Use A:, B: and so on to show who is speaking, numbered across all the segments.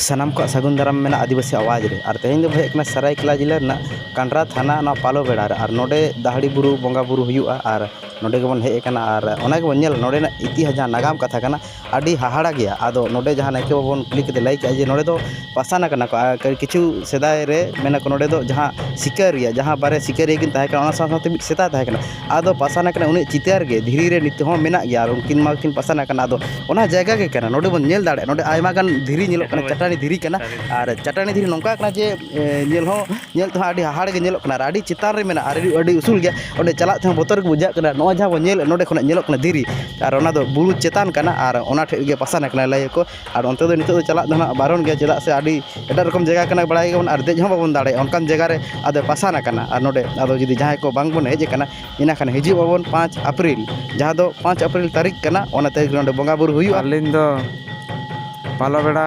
A: ᱥᱟᱱᱟᱢ ᱠᱚᱣᱟᱜ ᱥᱟᱹᱜᱩᱱ ᱫᱟᱨᱟᱢ ᱢᱮᱱᱟᱜᱼᱟ ᱟᱹᱫᱤᱵᱟᱹᱥᱤ ᱟᱣᱟᱡᱽ ᱨᱮ ᱟᱨ ᱛᱮᱦᱮᱧ ᱫᱚᱵᱚᱱ ᱦᱮᱡ ᱠᱟᱱᱟ ᱥᱟᱹᱨᱟᱹᱭᱠᱮᱞᱞᱟ ᱡᱮᱞᱟ ᱨᱮᱱᱟᱜ ᱠᱟᱸᱰᱨᱟ ᱛᱷᱟᱱᱟ ᱚᱱᱟ ᱯᱟᱞᱚ ᱵᱮᱲᱟ ᱨᱮ ᱟᱨ ᱱᱚᱰᱮ ᱫᱟᱦᱲᱤ ᱵᱩᱨᱩ ᱵᱚᱸᱜᱟ ᱵᱳᱨᱳ ᱦᱩᱭᱩᱜᱼᱟ ᱟᱨ ᱱᱚᱰᱮ ᱜᱮᱵᱚᱱ ᱦᱮᱡ ᱠᱟᱱᱟ ᱟᱨ ᱚᱱᱟ ᱜᱮᱵᱚᱱ ᱧᱮᱞ ᱱᱚᱰᱮᱱᱟᱜ ᱤᱛᱤᱦᱟᱥ ᱡᱟᱦᱟᱸ ᱱᱟᱜᱟᱢ ᱠᱟᱛᱷᱟ ᱠᱟᱱᱟ ᱟᱹᱰᱤ ᱦᱟᱦᱟᱲᱟ ᱜᱮᱭᱟ ᱟᱫᱚ ᱱᱚᱰᱮ ᱡᱟᱦᱟᱸ ᱱᱟᱭᱠᱮ ᱵᱟᱵᱟ ᱵᱚᱱ ᱠᱩᱞᱤ ᱠᱮᱫᱮᱭᱟ ᱞᱟᱹᱭ ᱠᱮᱜᱼᱟᱭ ᱡᱮ ᱱᱚᱰᱮ ᱫᱚ ᱯᱟᱥᱟᱱ ᱠᱟᱱᱟ ᱠᱚ ᱟᱨ ᱠᱤᱪᱷᱩ ᱥᱮᱫᱟᱭ ᱨᱮ ᱢᱮᱱᱟᱠᱚ ᱱᱚᱰᱮ ᱫᱚ ᱡᱟᱦᱟᱸ ᱥᱤᱠᱟᱹᱨᱤᱭᱟᱹ ᱡᱟᱦᱟᱸ ᱵᱟᱨᱭᱟ ᱥᱤᱠᱟᱹᱨᱤᱭᱟᱹ ᱠᱤᱱ ᱛᱟᱦᱮᱸ ᱠᱟᱱᱟ ᱚᱱᱟ ᱥᱟᱶ ᱥᱟᱶᱛᱮ ᱢᱤᱫ ᱥᱮᱛᱟ ᱛᱟᱦᱮᱸ ᱠᱟᱱᱟᱭ ᱟᱫᱚ ᱯᱟᱥᱟᱱ ᱟᱠᱟᱱᱟ ᱩᱱᱤᱭᱟᱜ ᱪᱤᱛᱟᱹᱨ ᱜᱮ ᱫᱷᱤᱨᱤ ᱨᱮ ᱱᱤᱛᱚᱜ ᱦᱚᱸ ᱢᱮᱱᱟᱜ ᱜᱮᱭᱟ ᱟᱨ ᱩᱱᱠᱤᱱ ᱢᱟᱠᱤᱱ ᱯᱟᱥᱟᱱ ᱟᱠᱟᱱᱟ ᱟᱫᱚ ᱚᱱᱟ ᱡᱟᱭᱜᱟ ᱜᱮ ᱠᱟᱱᱟ ᱱᱚᱰᱮ ᱵᱚᱱ ᱧᱮᱞ ᱫᱟᱲᱮᱭᱟᱜᱼᱟ ᱱᱚᱰᱮ ᱟᱭᱢᱟ ᱜᱟᱱ ᱫᱷᱤᱨᱤ ᱧᱮᱞᱚᱜ ᱠᱟᱱᱟ ᱪᱟᱹᱴᱟᱹᱱᱤ ᱫᱷᱤᱨᱤ ᱠᱟᱱᱟ ᱟᱨ ᱪᱟᱹᱴᱟᱹᱱᱤ ᱫᱷᱤᱨᱤ ᱱᱚᱝᱠᱟ ᱠᱟᱱᱟ ᱡᱮ ᱧᱮᱞ ᱦᱚᱸ ᱧᱮᱞ ᱛᱮᱦᱚᱸ ᱟᱹᱰᱤ ᱦᱟᱦᱟᱲᱟᱜ ᱜᱮ ᱧᱮᱞᱚᱜ ᱠᱟᱱᱟ ᱟᱨ ᱟᱹᱰᱤ ᱪᱮᱛᱟᱱ ᱨᱮ ᱢᱮᱱᱟᱜᱼᱟ ᱟᱹᱰᱤ ᱩᱥᱩᱞ ᱜᱮᱭᱟ ᱚᱸᱰᱮ ᱪᱟᱞᱟᱜ ᱛᱮᱦᱚᱸ ᱵᱚᱛᱚᱨ ᱜᱮ ᱵᱩᱡᱷᱟᱹᱜ ᱠᱟᱱᱟ ᱱᱚᱜᱼᱚᱭ ᱡᱟᱦᱟᱸ ᱵᱚᱱ ᱧᱮᱞᱮᱫ ᱱᱚᱰᱮ ᱠᱷᱚᱱᱟᱜ ᱧᱮᱞᱚᱜ ᱠᱟᱱᱟ ᱫᱷᱤᱨᱤ ᱟᱨ ᱚᱱᱟᱫᱚ ᱵᱩᱨᱩ ᱪᱮᱛᱟᱱ ᱠᱟᱱᱟ ᱟᱨ ᱚᱱᱟ ᱴᱷᱮᱡ ᱜᱮ ᱯᱟᱥᱟᱱ ᱟᱠᱟᱱᱟ ᱞᱟᱹᱭ ᱟᱠᱚ ᱟᱨ ᱚᱱᱛᱮ ᱫᱚ ᱱᱤᱛᱚᱜ ᱫᱚ ᱪᱟᱞᱟᱜ ᱫᱚ ᱦᱟᱸᱜ ᱵᱟᱨᱚᱱ ᱜᱮᱭᱟ ᱪᱮᱫᱟᱜ ᱥᱮ ᱟᱹᱰᱤ ᱮᱴᱟᱜ ᱨᱚᱠᱚᱢ ᱡᱟᱭᱜᱟ ᱠᱟᱱᱟ ᱵᱟᱲᱟᱭ ᱜᱮᱭᱟᱵᱚᱱ ᱟᱨ ᱫᱮᱡ ᱦᱚᱸ ᱵᱟᱵᱚᱱ ᱫᱟᱲᱮᱭᱟᱜᱼᱟ ᱚᱱᱠᱟᱱ ᱡᱟᱭᱜᱟ ᱨᱮ ᱟᱫᱚ ᱯᱟᱥᱟᱱ ᱠᱟᱱᱟ ᱟᱨ ᱱᱚᱰᱮ ᱟᱫᱚ ᱡᱩᱫᱤ ᱡᱟᱦᱟᱸᱭ ᱠᱚ ᱵᱟᱝ ᱵᱚᱱ ᱦᱮᱡ ᱠᱟᱱᱟ ᱤᱱᱟᱹ ᱠᱷᱟᱱ ᱦᱤᱡᱩᱜ ᱟᱵᱚᱱ ᱯᱟᱸᱪ ᱮᱯᱨᱤᱞ ᱡᱟᱦᱟᱸ ᱫᱚ ᱯᱟᱸᱪ ᱮᱯᱨᱤᱞ ᱛᱟᱹᱨᱤᱠᱷ ᱠᱟᱱᱟ ᱚᱱᱟ ᱛᱟᱹᱨᱤᱠᱷ ᱨᱮ ᱱᱚᱰᱮ ᱵᱚᱸᱜᱟᱼᱵᱩᱨᱩ ᱦᱩᱭᱩᱜᱼᱟ ᱟᱹᱞᱤᱧ ᱫᱚ ᱯᱟᱞᱚᱵᱮᱲᱟ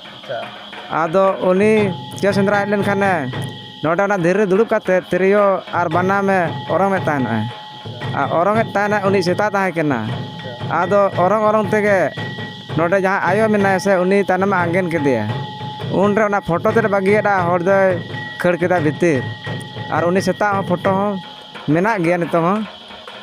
A: ᱟᱫᱚ ᱩᱱᱤ ᱪᱮᱬᱮ ᱥᱮᱸᱫᱽᱨᱟ ᱦᱮᱡ ᱞᱮᱱᱠᱷᱟᱱᱮ ᱱᱚᱰᱮ ᱚᱱᱟ ᱫᱷᱤᱨᱤ ᱨᱮ ᱫᱩᱲᱩᱵ ᱠᱟᱛᱮᱫ ᱛᱤᱨᱭᱳ ᱟᱨ ᱵᱟᱱᱟᱢᱮ ᱚᱨᱚᱝ ᱮᱫ ᱛᱟᱦᱮᱱᱚᱜᱼᱮ ᱟᱨ ᱚᱨᱚᱝ ᱮᱫ ᱛᱟᱦᱮᱱᱮ ᱩᱱᱤ ᱥᱮᱛᱟ ᱛᱟᱦᱮᱸ ᱠᱟᱱᱟ ᱟᱫᱚ ᱚᱨᱚᱝ ᱚᱨᱚᱝ ᱛᱮᱜᱮ ᱱᱚᱰᱮ ᱡᱟᱦᱟᱸᱭ ᱟᱭᱳ ᱢᱮᱱᱟᱭᱟ ᱥᱮ ᱩᱱᱤ ᱛᱟᱭᱱᱚᱢᱮ ᱟᱸᱜᱮᱱ ᱠᱮᱫᱮᱭᱟ ᱩᱱᱨᱮ ᱚᱱᱟ ᱯᱷᱳᱴᱳ ᱛᱮᱫ ᱮ ᱵᱟᱹᱜᱤᱭᱟᱫᱟ ᱦᱚᱲ ᱫᱚᱭ ᱠᱷᱟᱹᱲ ᱠᱮᱫᱟ ᱵᱷᱤᱛᱤᱨ ᱟᱨ ᱩᱱᱤ ᱥᱮᱛᱟᱣᱟᱜ ᱦᱚᱸ ᱯᱷᱳᱴᱳ ᱦᱚᱸ ᱢᱮᱱᱟᱜ ᱜᱮᱭᱟ ᱱᱤᱛᱚᱝ ᱦᱚᱸ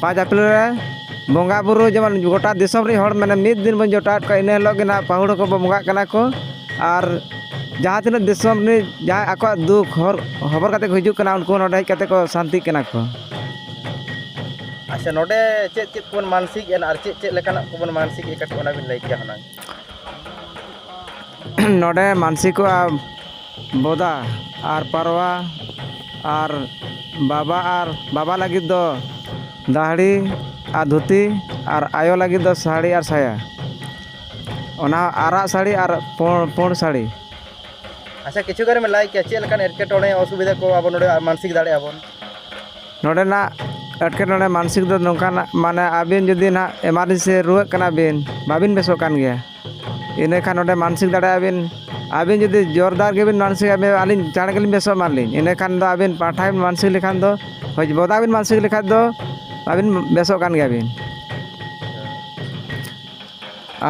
A: ᱯᱟᱸᱪ ᱟᱯᱨᱤᱞ ᱨᱮ ᱵᱚᱸᱜᱟ ᱵᱳᱨᱳ ᱡᱮᱢᱚᱱ ᱜᱳᱴᱟ ᱫᱤᱥᱚᱢ ᱨᱮᱱ ᱦᱚᱲ ᱢᱟᱱᱮ ᱢᱤᱫ ᱫᱤᱱ ᱵᱚᱱ ᱡᱚᱴᱟᱣᱮᱫ ᱠᱚᱣᱟ ᱤᱱᱟᱹ ᱦᱤᱞᱳᱜ ᱜᱮ ᱦᱟᱸᱜ ᱯᱟᱹᱦᱩᱲ ᱦᱚᱸᱠᱚ ᱵᱚᱸᱜᱟᱜ ᱠᱟᱱᱟ ᱠᱚ ᱟᱨ ᱡᱟᱦᱟᱸ ᱛᱤᱱᱟᱹᱜ ᱫᱤᱥᱚᱢ ᱨᱤᱱᱤᱡ ᱡᱟᱦᱟᱸᱭ ᱟᱠᱚᱣᱟᱜ ᱫᱩᱠ ᱦᱚᱨ ᱦᱚᱵᱚᱨ ᱠᱟᱛᱮᱫ ᱠᱚ ᱦᱤᱡᱩᱜ ᱠᱟᱱᱟ ᱩᱱᱠᱩ ᱦᱚᱸ ᱱᱚᱰᱮ ᱦᱮᱡ ᱠᱟᱛᱮᱫ ᱠᱚ ᱥᱟᱱᱛᱤᱜ ᱠᱟᱱᱟ ᱠᱚ ᱟᱪᱪᱷᱟ ᱱᱚᱰᱮ ᱪᱮᱫ ᱪᱮᱫ ᱠᱚᱵᱚᱱ ᱢᱟᱱᱥᱤᱠ ᱮᱫᱟ ᱟᱨ ᱪᱮᱫ ᱪᱮᱫ ᱞᱮᱠᱟᱱᱟᱜ ᱠᱚᱵᱚᱱ ᱢᱟᱱᱥᱤᱠ ᱮᱫᱟ ᱠᱟᱹᱴᱤᱡ ᱚᱱᱟ ᱵᱤᱱ ᱞᱟᱹᱭ ᱠᱮᱭᱟ ᱦᱩᱱᱟᱹᱝ ᱱᱚᱰᱮ ᱢᱟᱱᱥᱤᱠᱚᱜᱼᱟ ᱵᱚᱫᱟ ᱟᱨ ᱯᱟᱨᱣᱟ ᱟᱨ ᱵᱟᱵᱟ ᱟᱨ ᱵᱟᱵᱟ ᱞᱟᱹᱜᱤᱫ ᱫᱚ ᱫᱟᱹᱦᱲᱤ ᱟᱨ ᱫᱷᱩᱛᱤ ᱟᱨ ᱟᱭᱳ ᱞᱟᱹᱜᱤᱫ ᱫᱚ ᱥᱟᱹᱲᱤ ᱟᱨ ᱥᱟᱭᱟ ᱚᱱᱟ ᱟᱨᱟᱜ ᱥᱟᱹᱲᱤ ᱟᱨ ᱯᱩᱬ ᱯᱩᱬ ᱥᱟᱹᱲᱤ ᱟᱪᱪᱷᱟ ᱠᱤᱪᱷᱩ ᱜᱟᱱᱮᱢ ᱞᱟᱹᱭ ᱠᱮᱭᱟ ᱪᱮᱫ ᱞᱮᱠᱟᱱ ᱮᱴᱠᱮᱴᱚᱬᱮ ᱚᱥᱩᱵᱤᱫᱷᱟ ᱠᱚ ᱟᱵᱚ ᱱᱚᱰᱮ ᱢᱟᱱᱥᱤᱠ ᱫᱟᱲᱮᱭᱟᱜᱼᱟ ᱵᱚᱱ ᱱᱚᱰᱮᱱᱟᱜ ᱮᱴᱠᱮᱴᱚᱬᱮ ᱢᱟᱱᱥᱤᱠ ᱫᱚ ᱱᱚᱝᱠᱟᱱᱟᱜ ᱢᱟᱱᱮ ᱟᱹᱵᱤᱱ ᱡᱩᱫᱤ ᱦᱟᱸᱜ ᱮᱢᱟᱨᱡᱮᱱᱥᱤ ᱨᱩᱣᱟᱹᱜ ᱠᱟᱱᱟ ᱵᱤᱱ ᱵᱟᱹᱵᱤᱱ ᱵᱮᱥᱚᱜ ᱠᱟᱱ ᱜᱮᱭᱟ ᱤᱱᱟᱹ ᱠᱷᱟᱱ ᱚᱸᱰᱮ ᱢᱟᱱᱥᱤᱠ ᱫᱟᱲᱮᱭᱟᱜᱼᱟ ᱵᱤᱱ ᱟᱹᱵᱤᱱ ᱡᱩᱫᱤ ᱡᱳᱨᱫᱟᱨ ᱜᱮᱵᱤᱱ ᱢᱟᱱᱥᱤᱠ ᱟᱹᱞᱤᱧ ᱪᱟᱬ ᱜᱮᱞᱤᱧ ᱵᱮᱥᱚᱜ ᱮᱢᱟᱱ ᱞᱤᱧ ᱤᱱᱟᱹ ᱠᱷᱟᱱ ᱫᱚ ᱟᱹᱵᱤᱱ ᱯᱟᱴᱷᱟᱭ ᱢᱟᱱᱥᱤᱠ ᱞᱮᱠᱷᱟᱱ ᱫᱚ ᱦᱳᱭ ᱵᱚᱫᱟ ᱵᱤᱱ ᱢᱟᱱᱥᱤᱠ ᱞᱮᱠᱷᱟᱱ ᱫᱚ ᱟᱹᱵᱤᱱ ᱵᱮᱥᱚᱜ ᱠᱟᱱ ᱜᱮᱭᱟ ᱵᱤᱱ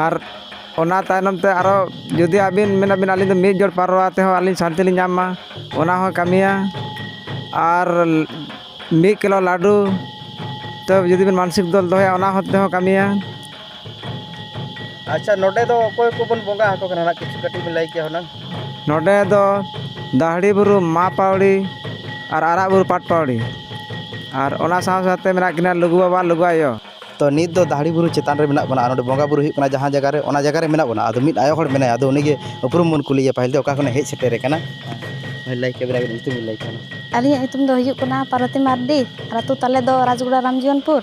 A: ᱟᱨ ᱚᱱᱟ ᱛᱟᱭᱱᱚᱢ ᱛᱮ ᱟᱨᱚ ᱡᱩᱫᱤ ᱟᱹᱵᱤᱱ ᱢᱮᱱᱟᱵᱤᱱ ᱟᱹᱞᱤᱧ ᱫᱚ ᱢᱤᱫ ᱡᱚᱲ ᱯᱟᱨᱣᱟ ᱛᱮᱦᱚᱸ ᱟᱹᱞᱤᱧ ᱥᱟᱱᱛᱤ ᱞᱤᱧ ᱧᱟᱢ ᱢᱟ ᱚᱱᱟ ᱦᱚᱸᱭ ᱠᱟᱹᱢᱤᱭᱟ ᱟᱨ ᱢᱤᱫ ᱠᱤᱞᱳ ᱞᱟᱹᱰᱩ ᱛᱚ ᱡᱩᱫᱤ ᱵᱤᱱ ᱢᱟᱱᱥᱤᱠ ᱫᱚᱦᱚᱭᱟ ᱚᱱᱟ ᱦᱚᱸ ᱛᱮᱦᱚᱸᱭ ᱠᱟᱹᱢᱤᱭᱟ ᱟᱪᱪᱷᱟ ᱱᱚᱰᱮ ᱫᱚ ᱚᱠᱚᱭ ᱠᱚᱵᱚᱱ ᱵᱚᱸᱜᱟ ᱟᱠᱚ ᱠᱟᱱᱟ ᱱᱟᱦᱟᱜ ᱠᱤᱪᱷᱩ ᱠᱟᱹᱴᱤᱡ ᱵᱤᱱ ᱞᱟᱹᱭ ᱠᱮᱭᱟ ᱦᱩᱱᱟᱹᱝ ᱱᱚᱰᱮ ᱫᱚ ᱫᱟᱹᱦᱲᱤ ᱵᱩᱨᱩ ᱢᱟ ᱯᱟᱹᱣᱲᱤ ᱟᱨ ᱟᱨᱟᱜ ᱵᱩᱨᱩ ᱯᱟᱴ ᱯᱟᱹᱣᱲᱤ ᱟᱨ ᱚᱱᱟ ᱥᱟᱶ ᱥᱟᱶᱛᱮ ᱢᱮᱱᱟᱜ ᱠᱤᱱᱟ ᱞᱩᱜᱩ ᱵᱟᱵᱟ ᱞᱩᱜᱩ ᱟᱭᱳ ᱛᱚ ᱱᱤᱛ ᱫᱚ ᱫᱟᱹᱦᱲᱤ ᱵᱩᱨᱩ ᱪᱮᱛᱟᱱ ᱨᱮ ᱢᱮᱱᱟᱜ ᱵᱚᱱᱟ ᱟᱨ ᱚᱸᱰᱮ ᱵᱚᱸᱜᱟ ᱵᱳᱨᱳ ᱦᱩᱭᱩᱜ ᱠᱟᱱᱟ ᱡᱟᱦᱟᱸ ᱡᱟᱭᱜᱟ ᱨᱮ ᱚᱱᱟ ᱡᱟᱭᱜᱟ ᱨᱮ ᱢᱮᱱᱟᱜ ᱵᱚᱱᱟ ᱟᱫᱚ ᱢᱤᱫ ᱟᱭᱳ ᱦᱚᱲ ᱢᱮᱱᱟᱭᱟ ᱟᱫᱚ ᱩᱱᱤᱜᱮ ᱩᱯᱨᱩᱢ ᱵᱚᱱ ᱠᱩᱞᱤᱭᱮᱭᱟ ᱯᱟᱹᱦᱤᱞ ᱫᱚ ᱚᱠᱟ ᱠᱷᱚᱱᱮ ᱦᱮᱡ ᱥᱮᱴᱮᱨ ᱟᱠᱟᱱᱟ ᱦᱳᱭ ᱞᱟᱹᱭ ᱠᱮᱫ ᱵᱤᱱ ᱟᱹᱵᱤᱱᱟᱜ ᱧᱩᱛᱩᱢ ᱵᱤᱱ ᱞᱟᱹᱭ ᱠᱮᱭᱟ ᱦᱩᱱᱟᱹᱝ ᱟᱹᱞᱤᱧᱟᱜ ᱧᱩᱛᱩᱢ ᱫᱚ ᱦᱩᱭᱩᱜ ᱠᱟᱱᱟ ᱯᱟᱨᱵᱚᱛᱤ ᱢᱟᱨᱰᱤ ᱟᱨ ᱟᱹᱛᱩ ᱛᱟᱞᱮ ᱫᱚ ᱨᱟᱡᱽᱜᱚᱲᱟ ᱨᱟᱢᱡᱤᱭᱚᱱᱯᱩᱨ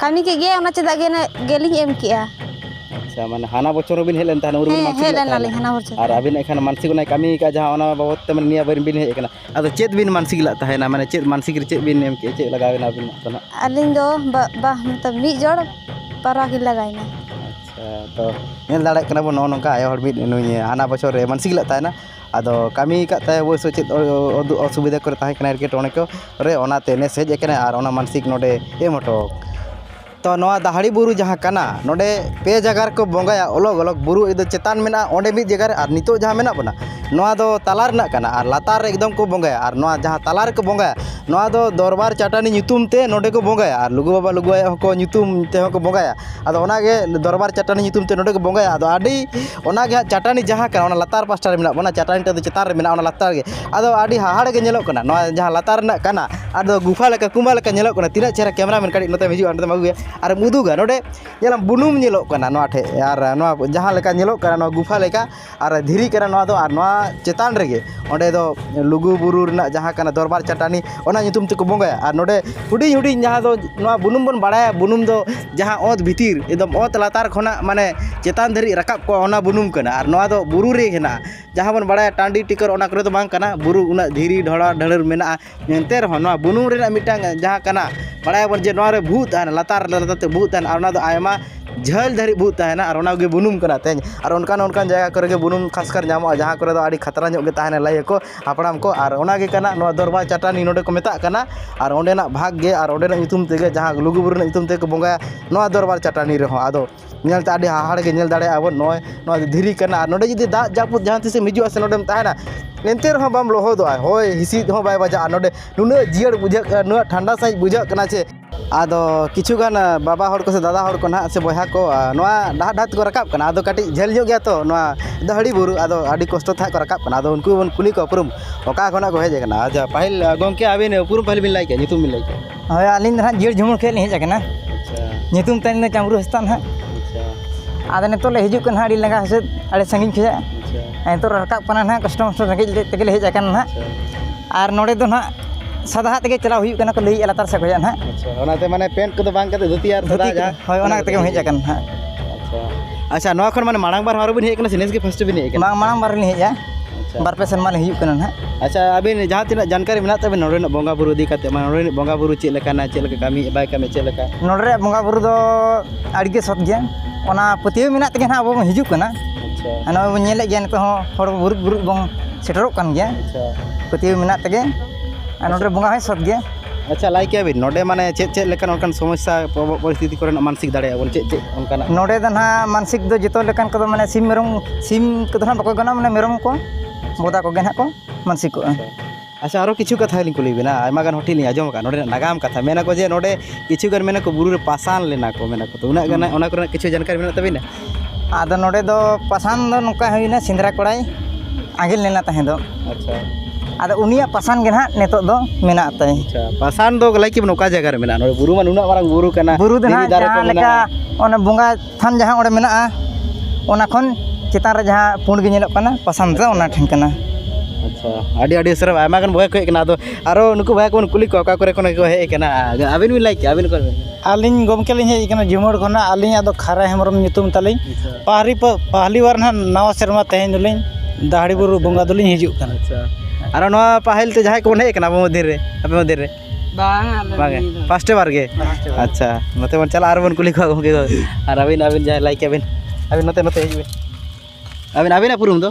A: ᱠᱟᱹᱢᱤ ᱠᱮᱫ ᱜᱮᱭᱟᱭ ᱚᱱᱟ ᱪᱮᱫᱟᱜ ᱜᱮ ᱜᱮᱞᱤᱧ ᱮᱢ ᱠᱮᱜᱼᱟ ᱟᱪᱪᱷᱟ ᱢᱟᱱᱮ ᱦᱟᱱᱟ ᱵᱚᱪᱷᱚᱨ ᱦᱚᱸᱵᱤᱱ ᱦᱮᱡ ᱞᱮᱱ ᱛᱟᱦᱮᱱᱟ ᱩᱱ ᱨᱮᱵᱤᱱ ᱦᱮᱸ ᱢᱟᱱᱥᱤᱠ ᱦᱮᱡ ᱞᱮᱫ ᱞᱮᱱᱟᱞᱤᱧ ᱛᱟᱦᱮᱱᱟ ᱦᱟᱱᱟ ᱵᱚᱪᱷᱚᱨ ᱟᱨ ᱟᱹᱵᱤᱱ ᱮᱱᱠᱷᱟᱱ ᱢᱟᱱᱥᱤᱠ ᱚᱱᱟᱭ ᱠᱟᱹᱢᱤ ᱟᱠᱟᱫ ᱡᱟᱦᱟᱸ ᱚᱱᱟ ᱵᱟᱵᱚᱫ ᱛᱮ ᱢᱟᱱᱮ ᱱᱤᱭᱟᱹ ᱵᱟᱨ ᱵᱤᱱ ᱦᱮᱡ ᱟᱠᱟᱱᱟ ᱟᱫᱚ ᱪᱮᱫ ᱵᱤᱱ ᱢᱟᱱᱥᱤᱠ ᱞᱮᱫ ᱛᱟᱦᱮᱱᱟ ᱢᱟᱱᱮ ᱪᱮᱫ ᱢᱟᱱᱥᱤᱠ ᱨᱮ ᱪᱮᱫ ᱵᱤᱱ ᱮᱢ ᱠᱮᱫᱼᱟ ᱪᱮᱫ ᱞᱟᱜᱟᱣ ᱮᱱᱟ ᱟᱹᱵᱤᱱ ᱫᱚ ᱱᱟᱦᱟᱜ ᱟᱹᱞᱤᱧ ᱫᱚ ᱵᱟ ᱵᱟ ᱢᱚᱛᱞᱚᱵ ᱢᱤᱫ ᱡᱚᱲ ᱯᱟᱣᱨᱟ ᱠᱤᱱ ᱞᱟᱜᱟᱣᱮᱱᱟ ᱟᱪᱪᱷᱟ ᱛᱚ ᱧᱮᱞ ᱫᱟᱲᱮᱭᱟᱜ ᱠᱟᱱᱟ ᱵᱚᱱ ᱱᱚᱜᱼᱚ ᱱᱚᱝᱠᱟ ᱟᱭᱳ ᱦᱚᱲ ᱢᱤᱫ ᱱᱩᱭ ᱦᱟᱱᱟ ᱵᱚᱪᱷᱚᱨ ᱨᱮ ᱢᱟᱱᱥᱤᱠ ᱞᱮᱫ ᱛᱟᱦᱮᱱᱟ ᱟᱫᱚ ᱠᱟᱹᱢᱤ ᱠᱟᱜ ᱛᱟᱭ ᱚᱵᱚᱥᱥᱳᱭ ᱪᱮᱫ ᱚᱥᱩᱵᱤᱫᱟ ᱠᱚᱨᱮ ᱛᱟᱦᱮᱸ ᱠᱟᱱᱟᱭ ᱮᱴᱠᱮᱴᱚᱬᱮ ᱠᱚ ᱨᱮ ᱚᱱᱟᱛᱮ ᱱᱮᱥ ᱦᱮᱡ ᱠᱟᱱᱟᱭ ᱟᱨ ᱚᱱᱟ ᱢᱟᱱᱥᱤᱠ ᱱᱚᱰᱮ ᱮᱢ ᱦᱚᱴᱚ ᱛᱚ ᱱᱚᱣᱟ ᱫᱟᱦᱲᱤ ᱵᱩᱨᱩ ᱡᱟᱦᱟᱸ ᱠᱟᱱᱟ ᱱᱚᱰᱮ ᱯᱮ ᱡᱟᱭᱜᱟ ᱨᱮᱠᱚ ᱵᱚᱸᱜᱟᱭᱟ ᱚᱞᱚᱜᱽ ᱚᱞᱚᱜᱽ ᱵᱩᱨᱩ ᱮᱠᱫᱚᱢ ᱪᱮᱛᱟᱱ ᱢᱮᱱᱟᱜᱼᱟ ᱚᱸᱰᱮ ᱢᱤᱫ ᱡᱟᱭᱜᱟ ᱨᱮ ᱟᱨ ᱱᱤᱛᱚᱜ ᱡᱟᱦᱟᱸ ᱢᱮᱱᱟᱜ ᱵᱚᱱᱟ ᱱᱚᱣᱟ ᱫᱚ ᱛᱟᱞᱟ ᱨᱮᱱᱟᱜ ᱠᱟᱱᱟ ᱟᱨ ᱞᱟᱛᱟᱨ ᱨᱮ ᱮᱠᱫᱚᱢ ᱠᱚ ᱵᱚᱸᱜᱟᱭᱟ ᱟᱨ ᱱᱚᱣᱟ ᱡᱟᱦᱟᱸ ᱛᱟᱞᱟ ᱨᱮᱠᱚ ᱵᱚᱸᱜᱟᱭᱟ ᱱᱚᱣᱟ ᱫᱚ ᱫᱚᱨᱵᱟᱨ ᱪᱟᱹᱴᱟᱹᱱᱤ ᱧᱩᱛᱩᱢ ᱛᱮ ᱱᱚᱰᱮ ᱠᱚ ᱵᱚᱸᱜᱟᱭᱟ ᱟᱨ ᱞᱩᱜᱩ ᱵᱟᱵᱟ ᱞᱩᱜᱩ ᱟᱭᱳ ᱦᱚᱸᱠᱚ ᱧᱩᱛᱩᱢ ᱛᱮᱦᱚᱸ ᱠᱚ ᱵᱚᱸᱜᱟᱭᱟ ᱟᱫᱚ ᱚᱱᱟᱜᱮ ᱫᱚᱨᱵᱟᱨ ᱪᱟᱹᱴᱟᱹᱱᱤ ᱧᱩᱛᱩᱢ ᱛᱮ ᱱᱚᱰᱮ ᱠᱚ ᱵᱚᱸᱜᱟᱭᱟ ᱟᱫᱚ ᱟᱹᱰᱤ ᱚᱱᱟᱜᱮ ᱦᱟᱸᱜ ᱪᱟᱹᱴᱟᱹᱱᱤ ᱡᱟᱦᱟᱸ ᱠᱟᱱᱟ ᱚᱱᱟ ᱞᱟᱛᱟᱨ ᱯᱟᱥᱴᱟ ᱨᱮ ᱢᱮᱱᱟᱜ ᱵᱚᱱᱟ ᱪᱟᱹᱴᱟᱹᱱᱤ ᱴᱟᱜ ᱫᱚ ᱪᱮᱛᱟᱱ ᱨᱮ ᱢᱮᱱᱟᱜᱼᱟ ᱚᱱᱟ ᱞᱟᱛᱟᱨ ᱨᱮᱜᱮ ᱟᱫᱚ ᱟᱹᱰᱤ ᱦᱟᱦᱟᱲᱟᱜ ᱜᱮ ᱧᱮᱞᱚᱜ ᱠᱟᱱᱟ ᱱᱚᱣᱟ ᱡᱟᱦᱟᱸ ᱞᱟᱛᱟᱨ ᱨᱮᱱᱟᱜ ᱠᱟᱱᱟ ᱟᱫᱚ ᱜᱩᱯᱷᱟ ᱞᱮᱠᱟ ᱠᱩᱢᱵᱟ ᱞᱮᱠᱟ ᱧᱮᱞᱚᱜ ᱠᱟᱱᱟ ᱛᱤᱱᱟᱹᱜ ᱪᱮᱦᱨᱟ ᱠᱮᱢᱮᱨᱟ ᱢᱮᱱ ᱠᱟᱹᱴᱤᱡ ᱱᱚᱛᱮᱢ ᱦᱤᱡᱩᱜᱼᱟ ᱱᱚᱛᱮᱢ ᱟᱹᱜᱩᱭᱟ ᱟᱨᱮᱢ ᱩᱫᱩᱜᱟ ᱱᱚᱰᱮ ᱧᱮᱞᱟᱢ ᱵᱩᱱᱩᱢ ᱧᱮᱞᱚᱜ ᱠᱟᱱᱟ ᱱᱚᱣᱟ ᱴᱷᱮᱡ ᱟᱨ ᱱᱚᱣᱟ ᱡᱟᱦᱟᱸ ᱞᱮᱠᱟ ᱧᱮᱞᱚᱜ ᱠᱟᱱᱟ ᱱᱚᱣᱟ ᱜᱩᱯᱷᱟ ᱞᱮᱠᱟ ᱟᱨ ᱫᱷᱤᱨᱤ ᱠᱟᱱᱟ ᱱᱚᱣᱟ ᱫᱚ ᱟᱨ ᱱᱚᱣᱟ ᱪᱮᱛᱟᱱ ᱨᱮᱜᱮ ᱚᱸᱰᱮ ᱫᱚ ᱞᱩᱜᱩᱼᱵᱩᱨᱩ ᱨᱮᱱᱟᱜ ᱡᱟᱦᱟᱸ ᱠᱟᱱᱟ ᱫᱚᱨᱵᱟᱨ ᱪᱟᱹᱴᱟᱹᱱᱤ ᱚᱱᱟ ᱧᱩᱛᱩᱢ ᱛᱮᱠᱚ ᱵᱚᱸᱜᱟᱭᱟ ᱟᱨ ᱱᱚᱰᱮ ᱦᱩᱰᱤᱧ ᱦᱩᱰᱤᱧ ᱡᱟᱦᱟᱸ ᱫᱚ ᱱᱚᱣᱟ ᱵᱩᱱᱩᱢ ᱵᱚᱱ ᱵᱟᱲᱟᱭᱟ ᱵᱩᱱᱩᱢ ᱫᱚ ᱡᱟᱦᱟᱸ ᱚᱛ ᱵᱷᱤᱛᱤᱨ ᱮᱠᱫᱚᱢ ᱚᱛ ᱞᱟᱛᱟᱨ ᱠᱷᱚᱱᱟᱜ ᱢᱟᱱᱮ ᱪᱮᱛᱟᱱ ᱫᱷᱟᱹᱨᱤᱡ ᱨᱟᱠᱟᱵ ᱠᱚᱜᱼᱟ ᱚᱱᱟ ᱵᱩᱱᱩᱢ ᱠᱟᱱᱟ ᱟᱨ ᱱᱚᱣᱟ ᱫᱚ ᱵᱩᱨᱩ ᱨᱮ ᱦᱮᱱᱟᱜᱼᱟ ᱡᱟᱦᱟᱸ ᱵᱚᱱ ᱵᱟᱲᱟᱭᱟ ᱴᱟᱺᱰᱤ ᱴᱤᱠᱟᱹᱨ ᱚᱱᱟ ᱠᱚᱨᱮ ᱫᱚ ᱵᱟᱝ ᱠᱟᱱᱟ ᱵᱩᱨᱩ ᱩᱱᱟᱹᱜ ᱫᱷᱤᱨᱤ ᱰᱷᱚᱲᱟ ᱰᱷᱟᱹᱲᱟᱹᱲ ᱢᱮᱱᱟᱜᱼᱟ ᱮᱱᱛᱮ ᱨᱮᱦᱚᱸ ᱱᱚᱣᱟ ᱵᱩᱱᱩᱢ ᱨᱮᱱᱟᱜ ᱢᱤᱫᱴᱟᱝ ᱡᱟᱦᱟᱸ ᱠᱟᱱᱟ ᱵᱟᱲᱟᱭ ᱟᱵᱚᱱ ᱡᱮ ᱱᱚᱣᱟ ᱨᱮ ᱵᱷᱩᱜᱟᱹᱜ ᱛᱟᱦᱮᱱᱟ ᱞᱟᱛᱟᱨ ᱞᱟᱛᱟᱨ ᱛᱮ ᱵᱷᱩᱜᱟᱹᱜ ᱛᱟᱦᱮᱱᱟ ᱟᱨ ᱚᱱᱟ ᱫᱚ ᱟᱭᱢᱟ ᱡᱷᱟᱹᱞ ᱫᱷᱟᱹᱨᱤᱡ ᱵᱷᱩᱜᱟᱹᱜ ᱛᱟᱦᱮᱱᱟ ᱟᱨ ᱚᱱᱟᱜᱮ ᱵᱩᱱᱩᱢ ᱠᱟᱱᱟ ᱛᱮᱦᱮᱧ ᱟᱨ ᱚᱱᱠᱟᱱ ᱚᱱᱠᱟᱱ ᱡᱟᱭᱜᱟ ᱠᱚᱨᱮᱜ ᱵᱩᱱᱩᱢ ᱠᱷᱟᱥᱠᱟᱨ ᱧᱟᱢᱚᱜᱼᱟ ᱡᱟᱦᱟᱸ ᱠᱚᱨᱮ ᱫᱚ ᱟᱹᱰᱤ ᱠᱷᱟᱛᱨᱟ ᱧᱚᱜ ᱜᱮ ᱛᱟᱦᱮᱱᱟ ᱞᱟᱹᱭ ᱟᱠᱚ ᱦᱟᱯᱲᱟᱢ ᱠᱚ ᱟᱨ ᱚᱱᱟ ᱜᱮ ᱠᱟᱱᱟ ᱱᱚᱣᱟ ᱫᱚᱨᱵᱟᱨ ᱪᱟᱹᱴᱟᱹᱱᱤ ᱱᱚᱰᱮ ᱠᱚ ᱢᱮᱛᱟᱜ ᱠᱟᱱᱟ ᱟᱨ ᱚᱸᱰᱮᱱᱟᱜ ᱵᱷᱟᱜᱽ ᱜᱮ ᱟᱨ ᱚᱸᱰᱮᱱᱟᱜ ᱧᱩᱛᱩᱢ ᱛᱮᱜᱮ ᱡᱟᱦᱟᱸ ᱞᱩᱜᱩᱼᱵᱩᱨᱩ ᱨᱮᱱᱟᱜ ᱧᱩᱛᱩᱢ ᱛᱮᱜᱮ ᱠᱚ ᱵᱚᱸᱜᱟᱭᱟ ᱱᱚᱣᱟ ᱫᱚᱨᱵᱟᱨ ᱪᱟᱹᱴᱟᱹᱱᱤ ᱨᱮᱦᱚᱸ ᱟᱫᱚ ᱧᱮᱞ ᱛᱮ ᱟᱹᱰᱤ ᱦᱟᱦᱟᱲᱟᱜ ᱜᱮ ᱧᱮᱞ ᱫᱟᱲᱮᱭᱟᱜᱼᱟ ᱵᱚᱱ ᱱᱚᱜᱼᱚᱭ ᱱᱚᱣᱟ ᱫᱚ ᱫᱷᱤᱨᱤ ᱠᱟᱱᱟ ᱟᱨ ᱱᱚᱰᱮ ᱡᱩᱫᱤ ᱫᱟᱜ ᱡᱟᱹᱯᱩᱫ ᱡᱟᱦᱟᱸ ᱛᱤᱥᱮᱢ ᱦᱤᱡᱩᱜ ᱟᱥᱮ ᱱᱚᱰᱮᱢ ᱛᱟᱦᱮᱱᱟ ᱮᱱᱛᱮ ᱨᱮᱦᱚᱸ ᱵᱟᱢ ᱞᱚᱦᱚᱫᱚᱜᱼᱟ ᱦᱚᱭ ᱦᱤᱸᱥᱤᱫ ᱦᱚᱸ ᱵᱟᱭ ᱵᱟᱡᱟᱜᱼᱟ ᱱᱚᱰᱮ ᱱᱩᱱᱟᱹᱜ ᱡᱤᱭᱟᱹᱲ ᱵᱩᱡᱷᱟᱹᱜ ᱠᱟᱱᱟ ᱱᱩᱱᱟᱹᱜ ᱴᱷᱟᱱᱰᱟ ᱥᱟᱺᱦᱤᱡ ᱵᱩᱡᱷᱟᱹᱜ ᱠᱟᱱᱟ ᱡᱮ ᱟᱫᱚ ᱠᱤᱪᱷᱩ ᱜᱟᱱ ᱵᱟᱵᱟ ᱦᱚᱲ ᱠᱚᱥᱮ ᱫᱟᱫᱟ ᱦᱚᱲ ᱠᱚ ᱱᱟᱦᱟᱜ ᱥᱮ ᱵᱚᱭᱦᱟ ᱠᱚ ᱱᱚᱣᱟ ᱰᱟᱦᱟᱨ ᱰᱟᱦᱟᱨ ᱛᱮᱠᱚ ᱨᱟᱠᱟᱵ ᱠᱟᱱᱟ ᱟᱫᱚ ᱠᱟᱹᱴᱤᱡ ᱡᱷᱟᱹᱞ ᱧᱚᱜ ᱜᱮᱭᱟ ᱛᱚ ᱱᱚᱣᱟ ᱫᱟᱹᱦᱲᱤ ᱵᱩᱨᱩ ᱟᱫᱚ ᱟᱹᱰᱤ ᱠᱚᱥᱴᱚ ᱛᱮᱦᱟᱸᱜ ᱠᱚ ᱨᱟᱠᱟᱵ ᱠᱟᱱᱟ ᱟᱫᱚ ᱩᱱᱠᱩ ᱵᱚᱱ ᱠᱩᱞᱤ ᱠᱚᱣᱟ ᱩᱯᱨᱩᱢ ᱚᱠᱟ ᱠᱷᱚᱱᱟᱜ ᱠᱚ ᱦᱮᱡ ᱠᱟᱱᱟ ᱟᱪᱪᱷᱟ ᱯᱟᱹᱦᱤᱞ ᱜᱚᱢᱠᱮ ᱟᱹᱵᱤᱱ ᱩᱯᱨᱩᱢ ᱯᱟᱹᱦᱤᱞ ᱵᱤᱱ ᱞᱟᱹᱭ ᱠᱮᱜᱼᱟ ᱧᱩᱛᱩᱢ ᱵᱤᱱ ᱞᱟᱹᱭ ᱠᱮᱜᱼᱟ ᱦᱳᱭ ᱟᱹᱞᱤᱧ ᱫᱚ ᱦᱟᱸᱜ ᱡᱤᱭᱟᱹᱲ ᱡᱷᱩᱢᱩᱨ ᱠᱷᱚᱱ ᱞᱤᱧ ᱦᱮᱡ ᱠᱟᱱᱟ ᱧᱩᱛᱩᱢ ᱛᱟᱹᱞᱤᱧ ᱫᱚ ᱪᱟᱢᱨᱩ ᱦᱟᱸᱥᱫᱟ ᱦᱟᱸᱜ ᱟᱫᱚ ᱱᱤᱛᱚᱜ ᱞᱮ ᱦᱤᱡᱩᱜ ᱠᱟᱱᱟ ᱦᱟᱸᱜ ᱟᱹᱰᱤ ᱞᱟᱸᱜᱟ ᱦᱤᱥᱟᱹᱵ ᱟᱹᱰᱤ ᱥᱟᱺᱜᱤᱧ ᱠᱷᱚᱱᱟᱜ ᱱᱤᱛᱚᱜ ᱞᱮ ᱨᱟᱠᱟᱵ ᱠᱟᱱᱟ ᱦᱟᱸᱜ ᱠᱚᱥᱴᱚ ᱢᱚᱥᱴᱚ ᱨᱮᱸᱜᱮᱡ ᱛᱮᱜᱮᱞᱮ ᱦᱮᱡ ᱠᱟᱱᱟ ᱦᱟᱸᱜ ᱟᱨ ᱱᱚᱰᱮ ᱫᱚ ᱦᱟᱸᱜ ᱥᱟᱫᱟᱣᱟᱜ ᱛᱮᱜᱮ ᱪᱟᱞᱟᱣ ᱦᱩᱭᱩᱜ ᱠᱟᱱᱟ ᱠᱚ ᱞᱟᱹᱭᱮᱫᱼᱟ ᱞᱟᱛᱟᱨ ᱥᱮᱫ ᱠᱷᱚᱱᱟᱜ ᱦᱟᱸᱜ ᱟᱪᱪᱷᱟ ᱚᱱᱟᱛᱮ ᱢᱟᱱᱮ ᱯᱮᱱᱴ ᱠᱚᱫᱚ ᱵᱟᱝ ᱠᱟᱛᱮ ᱫᱷᱩᱛᱤ ᱟᱨ ᱥᱟᱫᱟ ᱡᱟᱦᱟᱸ ᱦᱳᱭ ᱚᱱᱟ ᱠᱟᱛᱮ ᱜᱮᱢ ᱦᱮᱡ ᱟᱠᱟᱱᱟ ᱦᱟᱸᱜ ᱟᱪᱪᱷᱟ ᱟᱪᱪᱷᱟ ᱱᱚᱣᱟ ᱠᱷᱚᱱ ᱢᱟᱱᱮ ᱢᱟᱲᱟᱝ ᱵᱟᱨ ᱟᱨᱚ ᱵᱤᱱ ᱦᱮᱡ ᱠᱟᱱᱟ ᱥᱮ ᱱᱮᱥ ᱜᱮ ᱯᱷᱟᱥᱴ ᱵᱤᱱ ᱦᱮᱡ ᱠᱟᱱᱟ ᱵᱟᱝ ᱢᱟᱲᱟᱝ ᱵᱟᱨ ᱞᱤᱧ ᱦᱮᱡᱼᱟ ᱟᱪᱪᱷᱟ ᱵᱟᱨ ᱯᱮ ᱥᱮᱨᱢᱟ ᱞᱤᱧ ᱦᱩᱭᱩᱜ ᱠᱟᱱᱟ ᱦᱟᱸᱜ ᱟᱪᱪᱷᱟ ᱟᱹᱵᱤᱱ ᱡᱟᱦᱟᱸ ᱛᱤᱱᱟᱹᱜ ᱡᱟᱱᱠᱟᱨᱤ ᱢᱮᱱᱟᱜ ᱛᱟᱵᱤᱱ ᱱᱚᱰᱮᱱᱟᱜ ᱵᱚᱸᱜᱟ ᱵᱩᱨᱩ ᱤᱫᱤ ᱠᱟᱛᱮ ᱢᱟᱱᱮ ᱱᱚᱰᱮᱱᱟᱜ ᱵᱚᱸᱜᱟ ᱵᱩᱨᱩ ᱪᱮᱫ ᱞᱮᱠᱟᱱᱟ ᱪᱮᱫ ᱞᱮᱠᱟ ᱠᱟᱹᱢᱤ ᱵᱟᱭ ᱠᱟᱹᱢᱤ ᱪᱮᱫ ᱞᱮᱠᱟ ᱱᱚᱰᱮ ᱨᱮᱭᱟᱜ ᱵᱚᱸᱜᱟ ᱵᱩᱨᱩ ᱫᱚ ᱟᱹᱰᱤ ᱜᱮ ᱥᱚᱛ ᱜᱮᱭᱟ ᱚᱱᱟ ᱯᱟᱹᱛᱭᱟᱹᱣ ᱢᱮᱱᱟᱜ ᱛᱮᱜᱮ ᱦᱟᱸᱜ ᱟᱵᱚ ᱵᱚᱱ ᱦᱤᱡᱩᱜ ᱠᱟᱱᱟ ᱟᱪᱪᱷᱟ ᱟᱨ ᱱᱚᱜᱼᱚᱭ ᱵᱚᱱ ᱧᱮᱞᱮᱫ ᱜᱮᱭᱟ ᱱᱤᱛᱚᱜ ᱦᱚᱸ ᱦᱚᱲ ᱵᱩᱨᱩᱫ ᱵᱩᱨᱩᱫ ᱵᱚᱱ ᱥᱮᱴᱮᱨᱚᱜ ᱠᱟᱱ ᱜᱮᱭᱟ ᱟᱪᱪᱷᱟ ᱯᱟᱹᱛᱭᱟᱹᱣ ᱢᱮᱱᱟᱜ ᱛᱮᱜᱮ ᱟᱨ ᱱᱚᱰᱮ ᱵᱚᱸᱜᱟ ᱦᱚᱸᱭ ᱥᱚᱛ ᱜᱮᱭᱟ ᱟᱪᱪᱷᱟ ᱞᱟᱹᱭ ᱠᱮᱭᱟ ᱵᱤᱱ ᱱᱚᱰᱮ ᱢᱟᱱᱮ ᱪᱮᱫ ᱪᱮᱫ ᱞᱮᱠᱟᱱ ᱚᱱᱠᱟᱱ ᱥᱚᱢᱚᱥᱥᱟ ᱯᱚᱨᱵᱚ ᱯᱚᱨᱤᱥᱛᱷᱤᱛᱤ ᱠᱚᱨᱮᱱᱟᱜ ᱢᱟᱱᱥᱤᱠ ᱫᱟᱲᱮᱭᱟᱜᱼᱟ ᱵᱚᱱ ᱪᱮᱫ ᱪᱮᱫ ᱚᱱᱠᱟᱱᱟᱜ ᱱᱚᱰᱮ ᱫᱚ ᱱᱟᱦᱟᱜ ᱢᱟᱱᱥᱤᱠ ᱫᱚ ᱡᱚᱛᱚ ᱞᱮᱠᱟᱱ ᱠᱚᱫᱚ ᱢᱟᱱᱮ ᱥᱤᱢ ᱢᱮᱨᱚᱢ ᱥᱤᱢ ᱠᱚᱫᱚ ᱦᱟᱸᱜ ᱵᱟᱠᱚ ᱜᱟᱱᱚᱜᱼᱟ ᱢᱟᱱᱮ ᱢᱮᱨᱚᱢ ᱠᱚ ᱵᱚᱫᱟ ᱠᱚᱜᱮ ᱦᱟᱸᱜ ᱠᱚ ᱢᱟᱱᱥᱤᱠᱚᱜᱼᱟ ᱟᱪᱪᱷᱟ ᱟᱨᱚ ᱠᱤᱪᱷᱩ ᱠᱟᱛᱷᱟ ᱞᱤᱧ ᱠᱩᱞᱤ ᱵᱮᱱᱟ ᱟᱭᱢᱟ ᱜᱟᱱ ᱦᱚᱴᱮᱞ ᱞᱤᱧ ᱟᱸᱡᱚᱢ ᱟᱠᱟᱫᱼᱟ ᱱᱚᱰᱮᱱᱟᱜ ᱱᱟᱜᱟᱢ ᱠᱟᱛᱷᱟ ᱢᱮᱱᱟᱠᱚ ᱡᱮ ᱱᱚᱰᱮ ᱠᱤᱪᱷᱩ ᱜᱟᱱ ᱢᱮᱱᱟᱠᱚ ᱵᱩᱨᱩ ᱨᱮ ᱯᱟᱥᱟᱱ ᱞᱮᱱᱟ ᱠᱚ ᱢᱮᱱᱟᱠᱚ ᱛᱚ ᱩᱱᱟᱹᱜ ᱜᱟᱱ ᱚᱱᱟ ᱠᱚᱨᱮᱱᱟᱜ ᱠᱤᱪᱷᱩ ᱡᱟᱱᱠᱟᱨᱤ ᱢᱮᱱᱟᱜ ᱛᱟᱹᱵᱤᱱᱟ ᱟᱫᱚ ᱱᱚᱰᱮ ᱫᱚ ᱯᱟᱥᱟᱱ ᱫᱚ ᱱᱚᱝᱠᱟ ᱦᱩᱭᱱᱟ ᱥᱮᱸᱫᱽᱨᱟ ᱠᱚᱲᱟᱭ ᱟᱸᱜᱮᱞ ᱞᱮᱱᱟ ᱛᱟᱦᱮᱸ ᱫᱚ ᱟᱪᱪᱷᱟ ᱟᱫᱚ ᱩᱱᱤᱭᱟᱜ ᱯᱟᱥᱟᱱ ᱜᱮ ᱱᱟᱦᱟᱜ ᱱᱤᱛᱚᱜ ᱫᱚ ᱢᱮᱱᱟᱜ ᱛᱟᱭ ᱟᱪᱪᱷᱟ ᱯᱟᱥᱟᱱ ᱫᱚ ᱞᱟᱹᱭ ᱠᱮᱫ ᱵᱮᱱ ᱚᱠᱟ ᱡᱟᱭᱜᱟ ᱨᱮ ᱢᱮᱱᱟᱜᱼᱟ ᱱᱚᱰᱮ ᱵᱩᱨᱩ ᱢᱟ ᱱᱩᱱᱟᱹᱜ ᱢᱟᱨᱟᱝ ᱵᱩᱨᱩ ᱠᱟᱱᱟ ᱵᱩᱨᱩ ᱫᱚ ᱫᱷᱤᱨᱤ ᱱᱟᱦᱟᱜ ᱫᱟᱨᱮ ᱠᱚ ᱡᱟᱦᱟᱸ ᱞᱮᱠᱟ ᱢᱮᱱᱟᱜᱼᱟ ᱚᱱᱟ ᱵᱚᱸᱜᱟ ᱛᱷᱟᱱ ᱡᱟᱦᱟᱸ ᱚᱸᱰᱮ ᱢᱮᱱᱟᱜᱼᱟ ᱚᱱᱟ ᱠᱷᱚᱱ ᱪᱮᱛᱟᱱ ᱨᱮ ᱡᱟᱦᱟᱸ ᱯᱩᱸᱰ ᱜᱮ ᱧᱮᱞᱚᱜ ᱠᱟᱱᱟ ᱯᱟᱥᱟᱱ ᱫᱚ ᱚᱱᱟ ᱴᱷᱮᱱ ᱠᱟᱱᱟ ᱟᱪᱪᱷᱟ ᱟᱹᱰᱤ ᱟᱹᱰᱤ ᱥᱟᱨᱦᱟᱣ ᱟᱭᱢᱟ ᱜᱟᱱ ᱵᱚᱭᱦᱟ ᱠᱚ ᱦᱮᱡ ᱠᱟᱱᱟ ᱟᱫᱚ ᱟᱨᱚ ᱱᱩᱠᱩ ᱵᱚᱭᱦᱟ ᱠᱚᱵᱚᱱ ᱠᱩᱞᱤ ᱠᱚᱣᱟ ᱚᱠᱟ ᱠᱚᱨᱮ ᱠᱷᱚᱱ ᱠᱚ ᱦᱮᱡ ᱠᱟᱱᱟ ᱟᱹᱵᱤᱱ ᱵᱤᱱ ᱞᱟᱹᱭ ᱠᱮᱜᱼᱟ ᱟᱹᱵᱤᱱ ᱚᱠᱟ ᱠᱷᱚᱱ ᱟᱹᱞᱤᱧ ᱜᱚᱢᱠᱮ ᱞᱤᱧ ᱦᱮᱡ ᱠᱟᱱᱟ ᱡᱷᱩᱢᱩᱨ ᱠᱷᱚᱱᱟᱜ ᱟᱹᱞᱤᱧᱟᱜ ᱫᱚ ᱠᱷᱟᱨᱟ ᱦᱮᱢᱵᱨᱚᱢ ᱧᱩᱛᱩᱢ ᱛᱟᱹᱞᱤᱧ ᱯᱟᱦᱟᱨᱤ ᱯᱟᱦᱟᱞᱤ ᱵᱟᱨ ᱦᱟᱸᱜ ᱱᱟᱣᱟ ᱥᱮᱨᱢᱟ ᱛᱮᱦᱮᱧ ᱫᱚᱞᱤᱧ ᱫᱟᱦᱲᱤ ᱵᱩᱨᱩ ᱵᱚᱸᱜᱟ ᱫᱚᱞᱤᱧ ᱦᱤᱡᱩᱜ ᱠᱟᱱᱟ ᱟᱨ ᱱᱚᱣᱟ ᱯᱟᱹᱦᱤᱞ ᱛᱮ ᱡᱟᱦᱟᱸᱭ ᱠᱚᱵᱚᱱ ᱦᱮᱡ ᱠᱟᱱᱟ ᱟᱵᱚ ᱢᱚᱫᱽᱫᱷᱮ ᱨᱮ ᱟᱯᱮ ᱢᱚᱫᱽᱫᱷᱮ ᱨᱮ ᱵᱟᱝᱜᱮ ᱯᱷᱟᱥᱴᱮ ᱵᱟᱨ ᱜᱮ ᱟᱪᱪᱷᱟ ᱱᱚᱛᱮ ᱵᱚᱱ ᱪᱟᱞᱟᱜᱼᱟ ᱟᱨ ᱵᱚᱱ ᱠᱩᱞᱤ ᱠᱚᱣᱟ ᱜᱚᱢᱠᱮ ᱠᱚ ᱟᱨ ᱟᱹᱵᱤᱱ ᱟᱹᱵᱤᱱ ᱡᱟᱦᱟᱸᱭ ᱞᱟᱹᱭ ᱠᱮᱜᱼᱟ ᱵᱤᱱ ᱟᱹᱵᱤᱱ ᱱᱚᱛᱮ ᱱᱚᱛᱮ ᱦᱤᱡᱩᱜ ᱵᱤᱱ ᱟᱹᱵᱤᱱ ᱟᱹᱵᱤᱱᱟᱜ ᱩᱯᱨᱩᱢ ᱫᱚ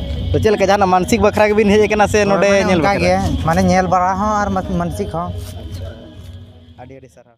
A: ᱛᱚ ᱪᱮᱫ ᱞᱮᱠᱟ ᱡᱟᱦᱟᱱᱟᱜ ᱢᱟᱱᱥᱤᱠ ᱵᱟᱠᱷᱨᱟ ᱜᱮᱵᱤᱱ ᱦᱮᱡ ᱠᱟᱱᱟ ᱥᱮ ᱱᱚᱰᱮ ᱧᱮᱞ ᱵᱟᱠᱷᱨᱟ ᱢᱟᱱᱮ ᱧᱮᱞ ᱵᱟᱲᱟ ᱦᱚᱸ ᱟᱨ ᱢᱟᱱᱥᱤᱠ ᱦᱚᱸ ᱟᱹᱰᱤ ᱟᱹᱰᱤ ᱥᱟᱨᱦᱟᱣ